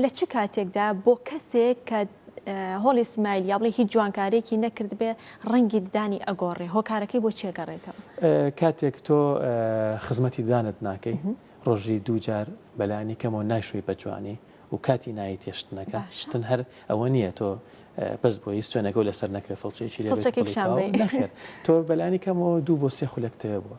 لە چ کاتێکدا بۆ کەسێک کە هۆڵی سمایل یا بڵێ هیچ جوانکارێکی نەکردبێ ڕەنگی ددانی ئەگۆڕێ هۆکارەکەی بۆ چێگەڕێتەوە کاتێک تۆ خزمەتی دانت ناکەی ڕۆژی دووجار بەلانی کەمەوە ناشوی بە جوانی و کاتی نایی تێشتنەکە شتن هەر ئەوە نییە تۆ بەس بۆی سوێنەکە لەسەر نەکرێ فڵچێکی لێ تۆ بەلانی کەمەوە دوو بۆ سێ خولەکتەوە بووە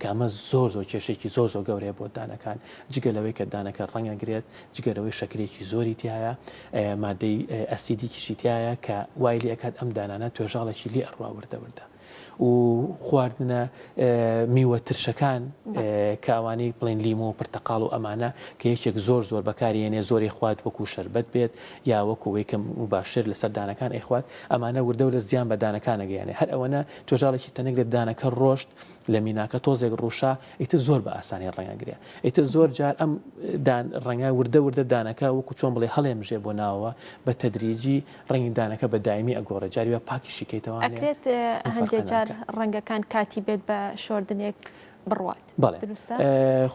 کە ئەمە زۆر زۆر کێشەیەکی زۆر زۆر گەورەیە بۆ دانەکان جگە لەوەی کە دانەکە ڕەنگ ئەگرێت جگە لەوەی شەکرەیەکی زۆری تیایە مادەی ئەسیدیکیشی تایە کە وای لێ ئەکات ئەم دانانە توێژاڵێکی لێ ئەڕوا وردە وردە و خواردنە میوە ترشەکان کە ئەوانەی بڵێن لیمۆ و پرتەقاڵ و ئەمانە کە یەکێک زۆر زۆر بەکارێنێ زۆری خوات وەکو شربەت بێت یا وەکوەوەی کەم و باشتر لە سەردانەکان ئەیخوات ئەمانە وردە لە زیان بەدانەکانەگەیانێ هەر ئەوەنە توێژاڵێکی تەنێک لە دانەکە ڕۆشت لە میناکە تۆزێک ڕووشا ئیتر زۆر بە ئاسانی ڕەنگە گرێ ئیتر زۆر جار ئەم ڕەنگە وردە وردە دانەکە وەکو چۆن بڵێ هەڵێمژێ بۆ ناوەوە بە تەدریجی ڕەنگی دانەکە بە دایمی ئەگۆڕێ جاریوە پاکی شیکەیتەوە ئەکرێت هەندێک جار ڕەنگەکان کاتی بێت بە شۆردنێک بڕوات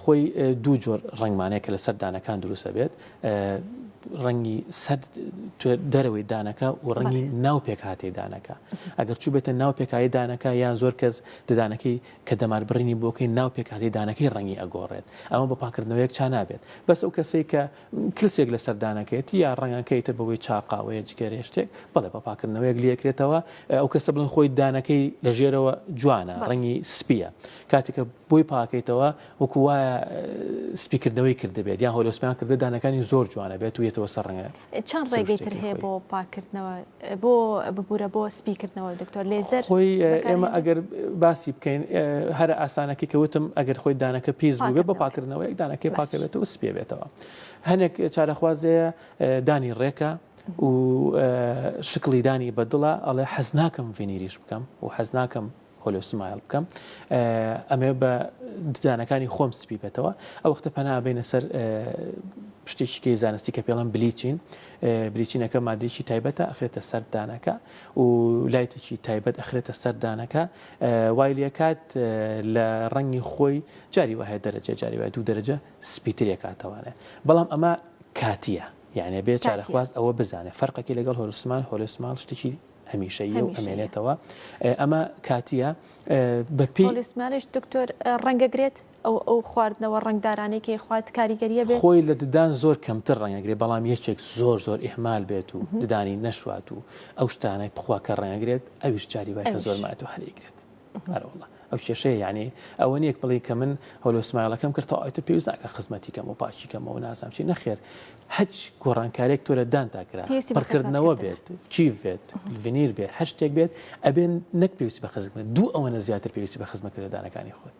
خۆی دوو جۆر ڕنگمانەیە کە لەسەر دانەکان دروستە بێت ڕەنگی سەر دەرەوەی دانەکە و ڕەنگی ناو پێکهاتەی دانەکە ئەگەر چوو بێتە ناو پێکایی دانەکە یان زۆر کەس ددانەکەی کە دەمار بڕینی بۆکەین ناو پێکهاتەی دانەکەی ڕەنگی ئەگۆڕێت ئەمە بە پاکردنەوە یەکچا نابێت بەس ئەو کەسەی کە کلسێک لەسەر دانەکەیەتی یا ڕەنگەکەی تر بەوەی چا قاوەیە جگەرەیە شتێک بەڵێ بە پاکردنەوەیەک لێکرێتەوە ئەو کەسە بڵێن خۆی دانەکەی لە ژێرەوە جوانە بەڵێ ڕەنگی سپیە کاتێکە بۆی پاکەیتەوە وەکو وایە سپیکردنەوەی کردبێت یان هۆلۆسپیان کردبێت دانەکانی زۆر جوانە بێت و یەتەوە سەر ڕەنگە چەند ڕێگەی تر هەیە بۆ پاکردنەوە بۆ ببوورە بۆ سپی کردنەوە دکتۆر لێزەر خۆی ئێمە ئەگەر باسی بکەین هەر ئاسانەکە کەوتم ئەگەر خۆی دانەکە پێز بووێت بە پاکردنەوە یەک دانەکەی پاکەوێت و سپێ بێتەوە هەنێک چارەخوازەیە دانی ڕێکە و شکڵیدانی بەدڵە ئەڵێ حەز ناکەم ڤینیریش بکەم و حەز ناکەم هۆلۆ سمایل بکەم ئەمێ بە ددانەکانی خۆم سپی بێتەوە ئەو وەختە پەنا بینە سەر شتێکیکەی زانستی کە پێڵم بلیچین بریچینەکە مادێکی تایبەتە ئەخرێتە سەردانەکە و لایتێکی تایبەت ئەخرێتە سەردانەکە وایلەکات لە ڕەنگی خۆی جاری وهە دەرەجە جاری وای دوو دەرەجە سپیترێکاتەوانێ بەڵام ئەمە کاتیە یعنی بێ چارەخواست ئەوە بزانێت فەرقەکی لەگەڵ هۆرسمان هۆرسمان شتێکی هەمیشەیە و ئەمێنێتەوە ئەمە کاتیە بەپی لەسمانش دکتۆر ڕەنگەگرێت ئەو ئەو خواردنەوە ڕنگدارانەی کەی خوات کاریگەریە بێ خۆی لە ددان زۆر کەمتر ڕەنگەگرێ بەڵام یەکێک زۆر زۆر ئیحمال بێت و ددانی نەشوات و ئەو شتانەی بخوا کە ڕێنگرێت ئەویش جاری بای کە زۆرمات و هەرێگرێت ئەرەوەڵا ئەو کێشەیە یعنی ئەوە نیەک بڵی کە من هەلو سمایلەکەم کرد تا ئەوتە پێویست ناکە خزمەتی کەم و پاچی کەمەوە نازام چی نەخێر هەچ گۆڕانکارێک تۆ لە دان تاکرا پڕکردنەوە بێت چی بێت ڤنیر بێت هەر شتێک بێت ئەبێن نەک پێویست بە خزمە دوو ئەوەنە زیاتر پێویستی بە خزمەکرددانەکانی خۆت